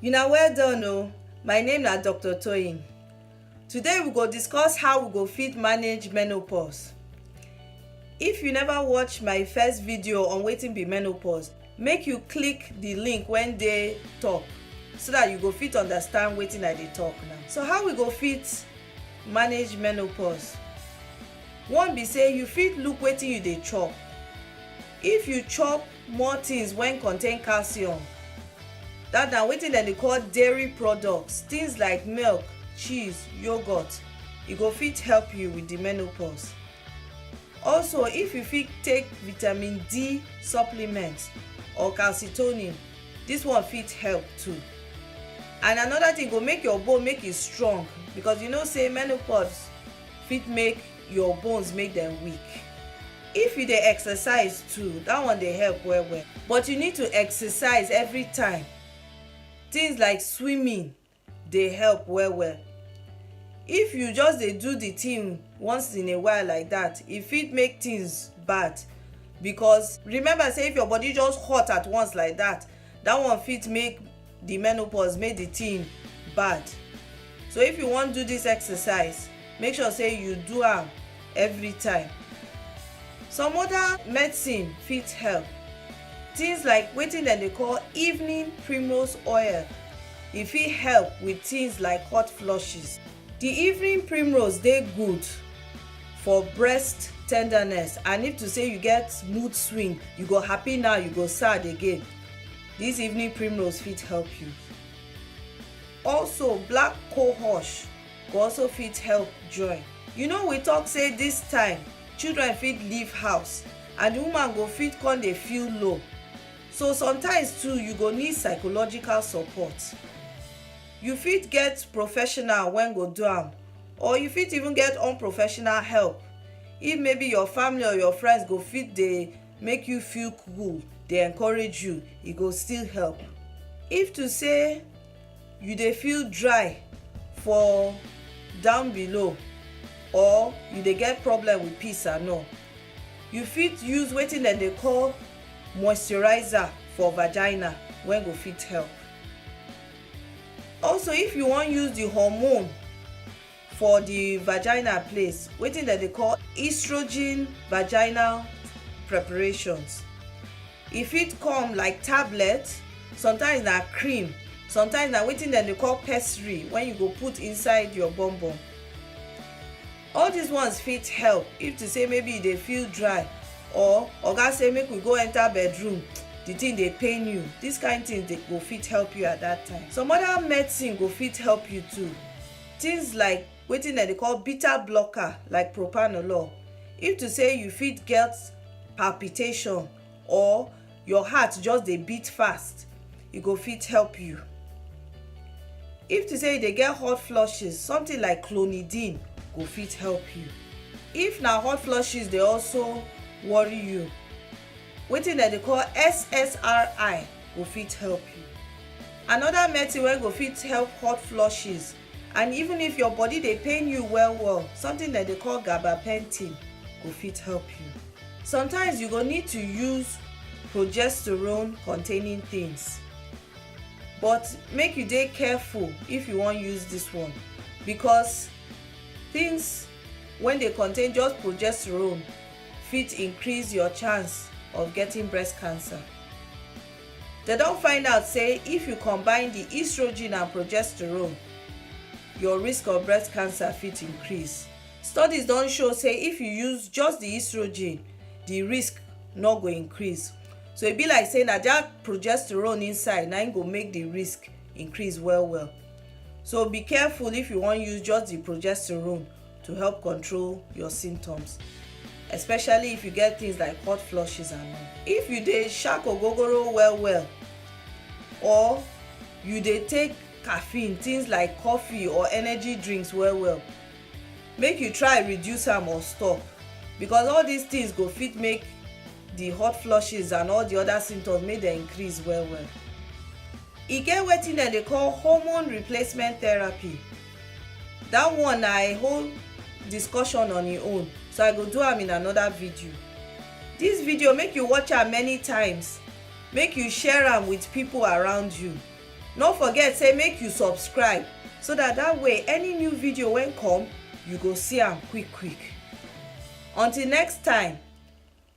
Una well done o, my name na Doctor Toyin. Today we go discuss how we go fit manage menopause. If you never watch my first video on wetin be menopause, make you click the link wey dey top so that you go fit understand wetin I dey talk now. So how we go fit manage menopause? One be say you fit look wetin you dey chop. If you chop more things wen contain calcium dat na wetin dem dey call dairy products things like milk, cheese, yoghurt e go fit help you with the menopause also if you fit take vitamin D supplement or calcitonin this one fit help too and another thing go make your bone make e strong because you know say menopause fit make your bones make dem weak if you dey exercise too that one dey help well well but you need to exercise every time things like swimming dey help well well if you just dey do the thing once in a while like that e fit make things bad because remember say if your body just hot at once like that that one fit make the menopause make the thing bad so if you wan do this exercise make sure say you do am every time some other medicine fit help things like wetin dem dey call evening primrose oil e fit help with things like hot flushes the evening primrose dey good for breast tenderness and if to say you get mood swing you go happy now you go sad again This evening primrose fit help you. Also, black cohosh go also fit help join. You know we talk say this time children fit leave house and the woman go fit come dey feel low. So sometimes too you go need psychological support. You fit get professional when go do am or you fit even get unprofessional help if maybe your family or your friends go fit dey make you feel cool dey encourage you e go still help if to say you dey feel dry for down below or you dey get problem with peace and all you fit use wetin dem dey call moisturizer for vagina wey go fit help also if you wan use the hormone for the vagina place wetin dem dey call estrogen vaginal preparations e fit come like tablet sometimes na cream sometimes na wetin dem dey call pessary when you go put inside your bum bum all these ones fit help if to say maybe you dey feel dry or oga say make we go enter bedroom the thing dey pain you this kind thing dey go fit help you at that time some other medicine go fit help you too Tins like wetin dem dey call beta blocker like propanolol, if to sey you fit get palpitation or your heart just dey beat fast, e go fit help you. If to sey you dey get hot flushes, somtin like clonidine go fit help you. If na hot flushes dey also worry you. Wetin dem dey call SSRI go fit help you. Another medicine wey go fit help hot flushes and even if your body dey pain you well well, something dem dey call gabapentin go fit help you. Sometimes you go need to use progesterone containing things but make you dey careful if you wan use this one because things wey dey contain just progesterone fit increase your chance of getting breast cancer. They don find out say if you combine the estrogen and progesterone, your risk of breast cancer fit increase. Studies don show say if you use just the estrogen, the risk no go increase. So e be like say na that progesterone inside na im go make the risk increase well well. So be careful if you wan use just the progesterone to help control your symptoms especially if you get things like hot flushes and all. If you dey shark ogogoro well well or you dey take caffeine things like coffee or energy drinks well well make you try reduce am or stop because all these things go fit make the hot flushes and all the other symptoms make dem increase well well. E get wetin dem dey call hormone replacement therapy that one na a whole discussion on im own so i go do am in another video this video make you watch am many times make you share am with people around you no forget say make you subscribe so that that way any new video wey come you go see am quick quick until next time